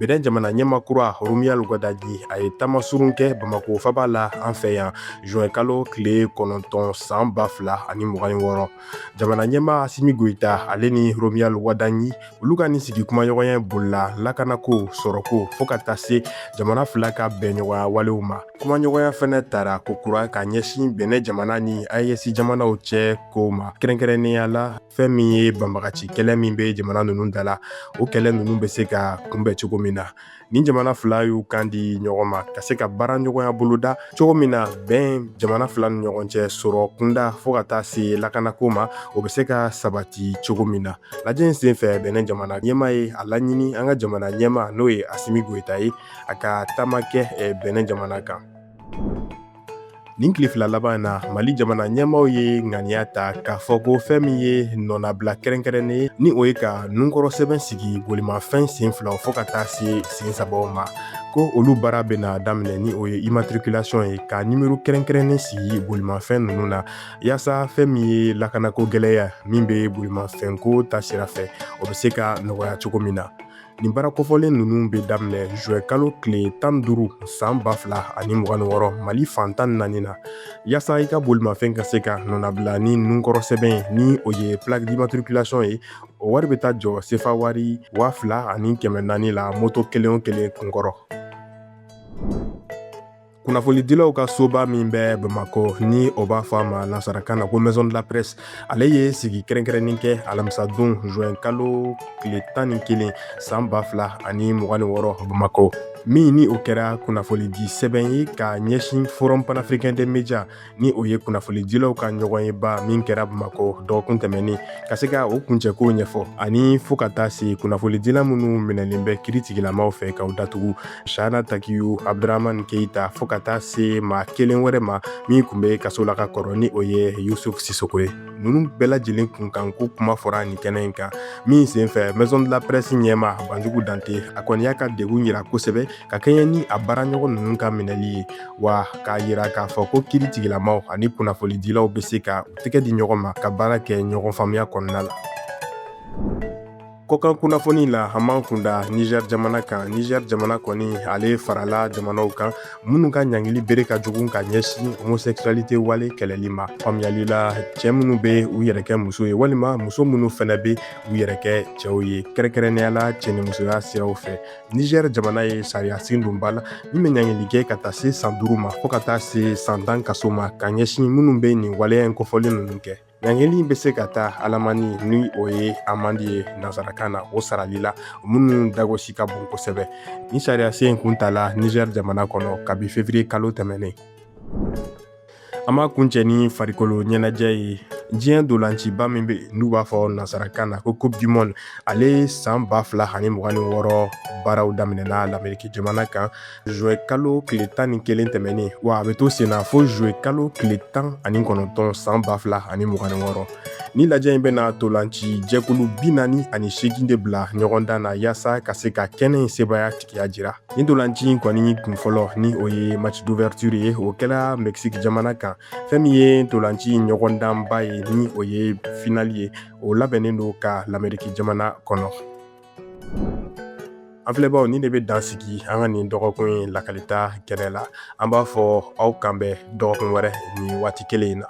bɛnɛ jamana ɲɛmaa kura romuald wadagni a ye taamasurun kɛ bamako faaba la an fɛ yan zuwɛnkalo tile kɔnɔntɔn san ba fila ani mugan ni wɔɔrɔ jamana ɲɛmaa asimi goyita ale ni romuald wadagni olu ka nin sigi kumaɲɔgɔnya bolila lakanako sɔrɔko fɔɔ ka taa se jamana fila ka bɛnɲɔgɔnya walew ma kumaɲɔgɔnya fɛnɛ tara kokura ka ɲɛsin bɛnɛ jamana ni ayɛsi jamanaw cɛ kow ma kɛrɛnkɛrɛnnenya la fɛn min ye banbagaci kɛlɛ min be jamana nunu da la o kɛlɛ nunu be se ka kunbɛn cogo min na nin jamana fila y'u kan di ɲɔgɔn ma ka se ka baaraɲɔgɔnya boloda cogo min na bɛn jamana fila ni ɲɔgɔn cɛ sɔrɔ kunda fɔɔ ka taa se lakanako ma o be se ka sabati cogo min na lajɛ in sen fɛ bɛnɛ jamana ɲɛmaa ye a laɲini an ka jamana ɲɛmaa n'o ye asimi goyita ye a ka taama kɛ bɛnɛ jamana kan Nin tile fila laban in na mali jamana ɲɛmaaw ye ŋaniya ta k'a fɔ ko fɛn min ye nɔnabila kɛrɛnkɛrɛnnen ni o ye ka nunkɔrɔ sɛbɛn sigi bolimafɛn sen filaw fɔɔ ka taa se sen sabaw ma ko olu baara bɛna daminɛ ni o ye immatriculation ye ka nimero kɛrɛnkɛrɛnnen sigi bolimafɛn ninnu na yaasa fɛn min ye lakanako gɛlɛya min bɛ bolimafɛnko ta sira fɛ o bɛ se ka nɔgɔya cogo min na nin baara kofɔlen ninnu bɛ daminɛ zuwɛnkalo tile tan duuru san ba fila ani mugan ni wɔɔrɔ mali fan tan naani na yaasa i ka bolimafɛn ka se ka nɔnabila ni nunkɔrɔ sɛbɛn ye ni o ye plaque d'immatriculation ye o wari bɛ taa jɔ sefa wari waa fila ani kɛmɛ naani la moto kelen o kelen kunkɔrɔ kunnafonidilaw ka soba min bɛ bamakɔ ni o b'a fɔ a ma nasarakan na ko maison de la presse ale ye sigi kɛrɛnkɛrɛnnin kɛ alamisadon juin kalo tile tan ni kelen san ba fila ani mugan ni wɔɔrɔ bamakɔ min ni o kɛra kunnafonidi sɛbɛn ye ka ɲɛsin forum panafricain des médias ni o ye kunnafonidilaw ka ɲɔgɔnyeba min kɛra bamakɔ dɔgɔkun tɛmɛnen ka se ka o kuncɛkow ɲɛfɔ ani fo ka taa se kunnafonidila minnu minɛlen bɛ kiiri tigilamaaw fɛ ka u datugu shahana takiyu abduraman keita fo ka taa se maa kelen wɛrɛ ma min kun bɛ kaso la ka kɔrɔ ni o ye yusuf sisoko ye ninnu bɛɛ lajɛlen kunkanko kuma fɔra nin kɛnɛ in kan min senfɛ maison de la presse ɲɛmaa banjugu dante a kɔni y'a ka degun yira kosɛbɛ ka kɛɲɛ ni a baara ɲɔgɔn ninnu ka minɛli ye wa k'a yira k'a fɔ ko kiri tigilamaw ani kunnafonidilaw bɛ se ka u tɛgɛ di ɲɔgɔn ma ka baara kɛ ɲɔgɔn faamuya kɔnɔna la kɔkan kunnafoni la an b'an kun da niger jamana kan niger jamana kɔni ale farala jamanaw kan minnu ka ɲangili bere ka jugu ka ɲɛsin homosexualité wale kɛlɛli ma faamuyali la cɛ minnu be u yɛrɛ kɛ muso ye walima muso minnu fɛnɛ be u yɛrɛ kɛ cɛw ye kɛrɛnkɛrɛnnenya la cɛnimusoya siraw fɛ niger jamana ye sariya sen don ba la min bɛ ɲangili kɛ ka taa se san duuru ma fo ka taa se san tan kaso ma ka ɲɛsin minnu bɛ nin waleya in kofɔlen ninnu kɛ ɲangili in bɛ se ka taa alamani ni o ye amandi ye nansarakan na o sarali la minnu dagosi ka bon kosɛbɛ nin sariya sen in kun tala nizɛri jamana kɔnɔ kabi fevriye kalo tɛmɛnen an b'a kuncɛ ni farikolo ɲɛnajɛ ye diɲɛ ntolanciba min bɛ yen n'u b'a fɔ nansarakan na ko coupe du monde ale san ba fila ani mugan ni wɔɔrɔ baaraw daminɛna lameriki jamana kan zuwɛn kalo tile tan ni kelen tɛmɛnen wa a bɛ to sen na fo zuwɛn kalo tile tan ani kɔnɔntɔn san ba fila ani mugan ni wɔɔrɔ nin lajɛ in bɛna ntolanci jɛkulu bi naani ani seegin de bila ɲɔgɔndan na yaasa ka se ka kɛnɛ in sebaaya tigiya jira Nin ntolanci in kɔni kun fɔlɔ ni o ye match d'ouverture ye o kɛla Mexique jamana kan fɛn min ye ntolanci in ɲɔgɔndanba ye ni o ye final ye o labɛnnen don ka lameriki jamana kɔnɔ an filɛbaaw nin de bɛ dan sigi an ka nin dɔgɔkun in lakalita kɛnɛ la an b'a fɔ aw k'an bɛn dɔgɔkun wɛrɛ nin waati kelen in na